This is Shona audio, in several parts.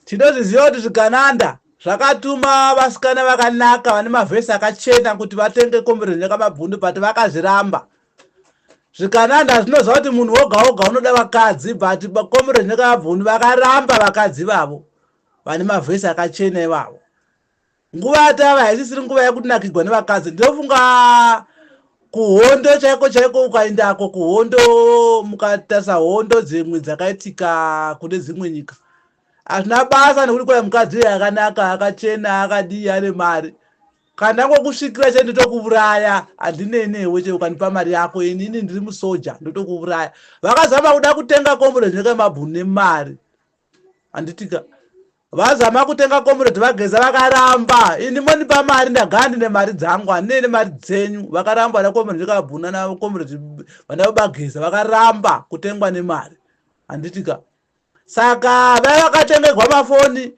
Tinozviziva kuti zvigananda zvakatuma vasikana vakanaka vane mavhesi akachena kuti vatenge kombero nyakamabvundu but vakazviramba zvikananda zvinoziva kuti munhu woga woga unoda vakadzi but kombero nyakamabvundu vakaramba vakadzi vavo vane mavhesi akachena ivavo nguva yatava haisisiri nguva yekuti nakigwa nevakadzi ndinofunga kuhondo chaiko chaiko ukaendako kuhondo mukatarisa hondo dzimwe dzakaitika kune dzimwe nyika hazvina basa nekuti kwai mukadzi uyo akanaka akachena akadii ane mari kana ndangokusvikira chete ndotokuuraya handinei newe chete ukandipa mari yako inini ndiri musoja ndotokuuraya vakazama kuda kutenga kombo rezvineka mabhunu nemari handitika vazama kutenga comrade vageza vakaramba ini mondipa mari ndagara ndine mari dzangu handine ne mari dzenyu vakaramba vana comrade kabhuna na comrade vana vabageza vakaramba kutengwa nemari handitika saka vai vakatengerwa mafoni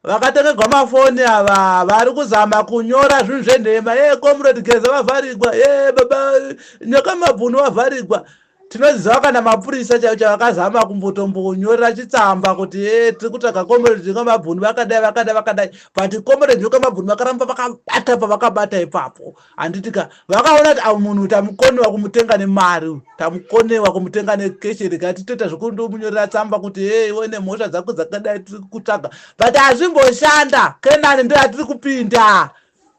vakatengerwa mafoni ava vari kuzama kunyora zvinhu zvenhema ye comrade geza vavharigwa ye baba nyoka mabhunu vavharigwa tinoziva kana mapurisa chaivo chavo akazama kumbotombonyorera chitsamba kuti e tiri kutsvaga comrade nyokamabhuni vakadai vakadai vakadai but comrade nyokamabhuni vakaramba vakabata pavakabata ipapo handiti ka vakaona kuti avo munhu tamukonewa kumutenga nemari tamukonewa kumutenga nekeshe rega titoita zvekundomunyorera tsamba kuti e iwe nemhosva dzako dzakadai tiri kutsvaga but hazvimboshanda kenani ndo yatiri kupinda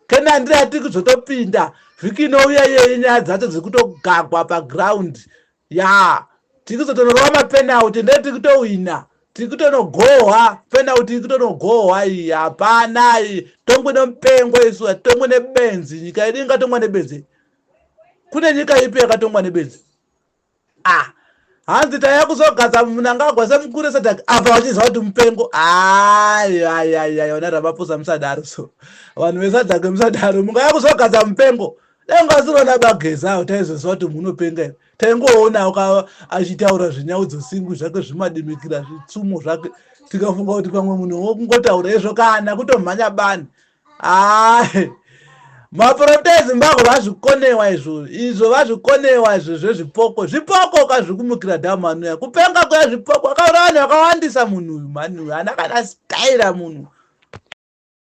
kena handira atiri kuzotopinda vhiki inouya yeye nyaya dzacho dziri kutogagwa paground ya tiri kuzotonorova mapenauti ndee tiri kutohwina tiri kutonogohwa penauti iri kutonogohwa iyi hapana iyi tongwe nomupengo isu atitongwe nebenzi nyika yedu ingatongwa nebenzi kune nyika ipi yakatongwa nebenzi ah hanzi taya kuzogadza munangagwa semukuru esadak apa vachiziva kuti mupengo ayayaya vana ramapusa musadaro so vanhu vesadak musadaro mungaya kuzogadza mupengo dai ungasirona bageza utaizoziva kuti munhu unopenga here taingoona uka achitaura zvinyaudzo singu zvake zvimadimikira zvitsumo zvake tikafunga kuti pamwe munhu wokungotaura izvo kana kutomhanya bani Ahe. Maporofita eZimbabwe vazvikonewa izvo. Izvo vazvikonewa izvo zvezvipoko. Zvipoko ukazvikumukira dhamu anouya. Kupenga kuya zvipoko. Akaura vanhu vakawandisa munhu uyu mhani uyu. Ana kana style munhu.